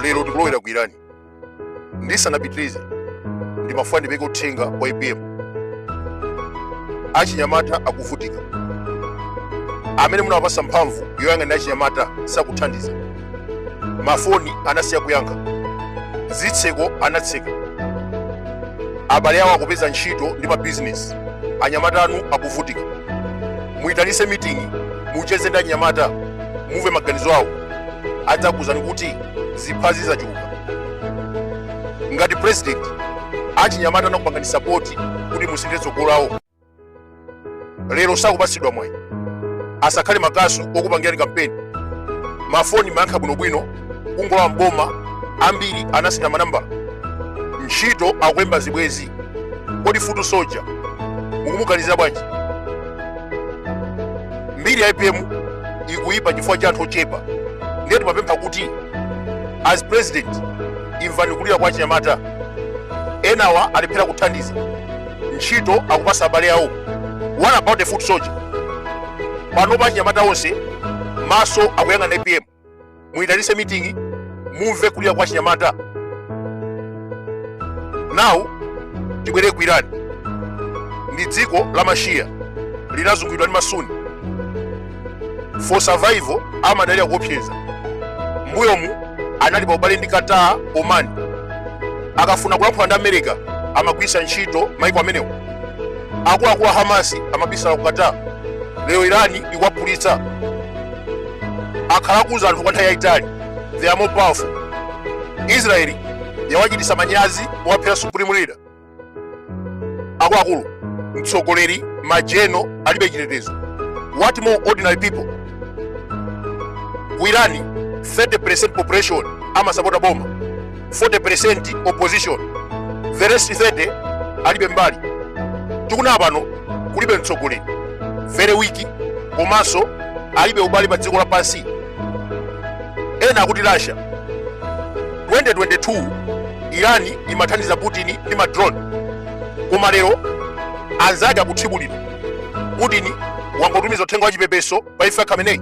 lero tikulowera ku irani ndisanapitirize ndimafuna ndipereke uthenga wa apm achinyamata akuvutika amene munawapasa mphamvu yoyang'anira achinyamata sakuthandiza mafoni anasiya kuyankha zitseko anatseka abale awo akupeza ntchito ndi mabizinesi achinyamata anu akuvutika muyitanitse meeting mucheze ndi achinyamata mumve maganizo awo adzakuuzani kuti ziphazi zachuluka ngati president achinyamata anakupangani sapoti kuti musinthe tsogolo lawo lero sakupatsidwa mwayi asakhale makasu okupangirani kampeni mafoni amayankha bwinobwino kungolowa mboma ambiri anasintha manambala ntchito akulemba zibwenzi kodi futu soja mukumuganizira bwanji mbiri ya apm ikuyipa chifukwa cha anthu ochepa ndiye timapempha kuti as president imvani kulira kwa achinyamata enawa alephera kuthandiza ntchito akupatsa abale awo what about the foot soldier panopa achinyamata onse maso akuyang'ana apm muyitanitse mitingi mumve kulira kwa achinyamata nawu tibwere ku irani ndi dziko la mashiya linazunguliridwa ndi masuni for survival amadalira kuopseza mbuyomu anali pa ubale ndi qatar oman akafuna kulankhula ndi america amagwiritsa ntchito maiko amenewo akuluakulu a hamasi amabisala ku qatar lero irani ikuwaphulitsa akhala akuuza anthu kwa nthawi yayitali they are more powerful israeli yawachititsa manyazi powaphera supreme leader akuluakulu mtsogoleri majenero alibe chitetezo what more ordinary people ku irani 30% population amasapota boma 40% opposition the rest 30 alibe mbali tikunena pano kulibe mtsogoleri very weak komanso alibe ubale pa dziko lapansi ena akuti russia 2022 irani imathandiza putin ndi madrone koma lero anzake akuthibulidwa putin wangotumiza uthenga wa chipepeso pa imfa ya khameneyi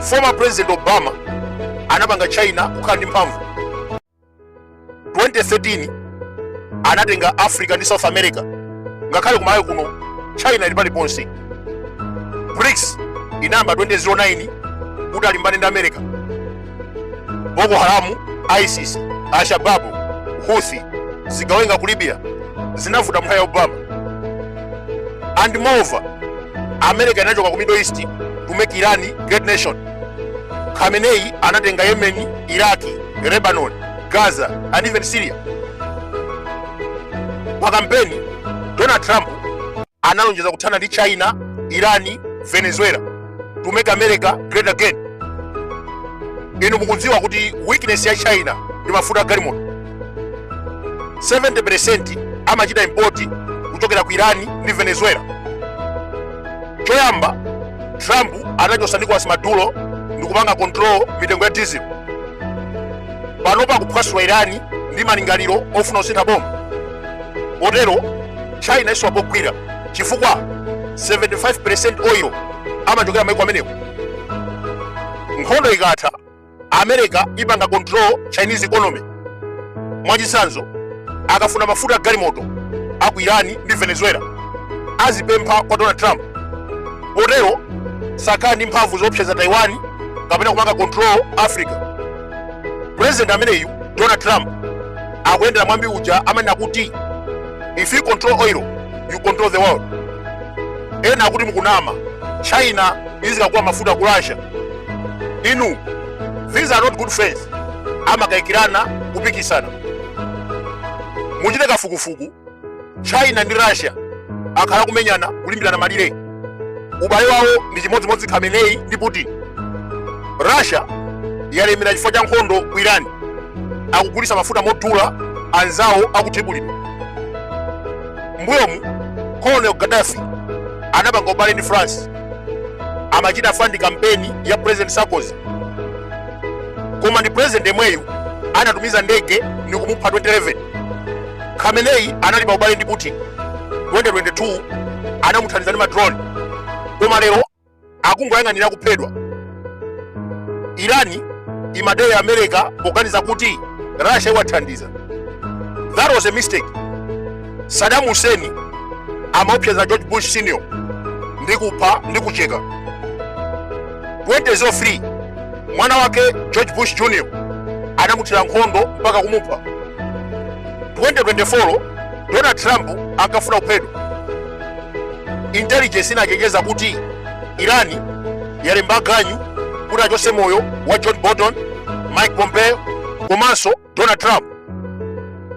former president obama anapanga china kukhala ndi mphamvu 2013 anatenga africa ndi south america ngakhale kumalawi kuno china ili paliponse brics inayamba 2009 kuti alimbane ndi america boko haramu isis alshababu huthi zigawenga ku libya zinavuta mnthawi ya obama and moreover america inachoka ku middle east to make iran great nation khamenei anatenga yemen iraki lebanon gaza and even syria pa kampeni donald trump analonjeza kuthana ndi china irani venezuela to make america great again inu mukudziwa kuti weakness ya china ndi mafuta agalimoto 70% amachita import kuchokera ku irani ndi venezuela choyamba trump anachotsa nicolas maduro ndikupanga control mitengo ya diesel panopa akuphwasula irani ndi malingaliro ofuna kusintha boma potero china isowa pogwira chifukwa 75 oil amachokera maiko amenewo nkhondo ikatha america ipanga control chinese economy mwachitsanzo akafuna mafuta agalimoto aku irani ndi venezuela azipempha kwa donald trump potero sakhala ndi mphamvu zoopseza taiwan kapena kupanga control africa president ameneyu donald trump akuyendera mwambi uja amanena kuti if you control oil you control the world ena akuti mukunama china izikagula mafuta ku russia inu these are not good friends amakayikirana kupikisana muchite kafukufuku china ndi russia akhala kumenyana kulimbirana malire ubale wawo ndi chimodzimodzi khamenei ndi putin russia yalemera chifukwa cha nkhondo ku iran akugulitsa mafuta modula anzawo akuthibulidwa mbuyomu colonel gaddafi anapanga ubale ndi france amachita fund kampeni ya president sarkozy koma ndi president yemweyu anatumiza ndege ndi kumupha 2011 khamenei anali pa ubale ndi putin 2022 anamuthandiza ndi madrone koma lero akungoyang'anira kuphedwa irani imadera america poganiza kuti russia iwathandiza that was a mistake saddam hussein amaopseza george bush senior ndi kupha ndi kucheka 2003 mwana wake George Bush Jr anamuthira nkhondo mpaka kumupha. 2024 Donald Trump ankafuna kuphedwa. Intelligence inachenjeza kuti Irani yalemba ganyu kuti achotse moyo wa John Bolton, Mike Pompeo komanso donald trump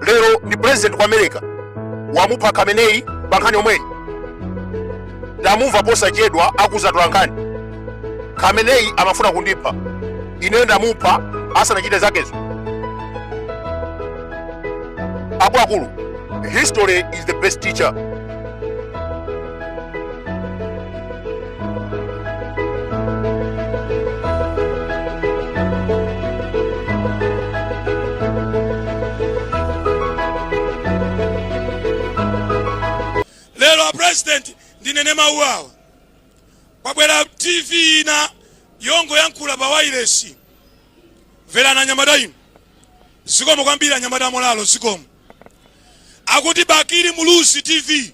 lero ndi president wa america wamupha khamenei pa nkhani yomweyi ndamumva posachedwa akudzatula nkhani khamenei amafuna kundipha ineyo ndamupha asanachite zakezo akuluakulu history is the best teacher lero apresident ndinene mawu awa kwabwera tv ina yongoyankhula pa wailesi mverani anyamata inu zikomo kwambiri anyamata amolalo zikomo akuti bakili muluzi tv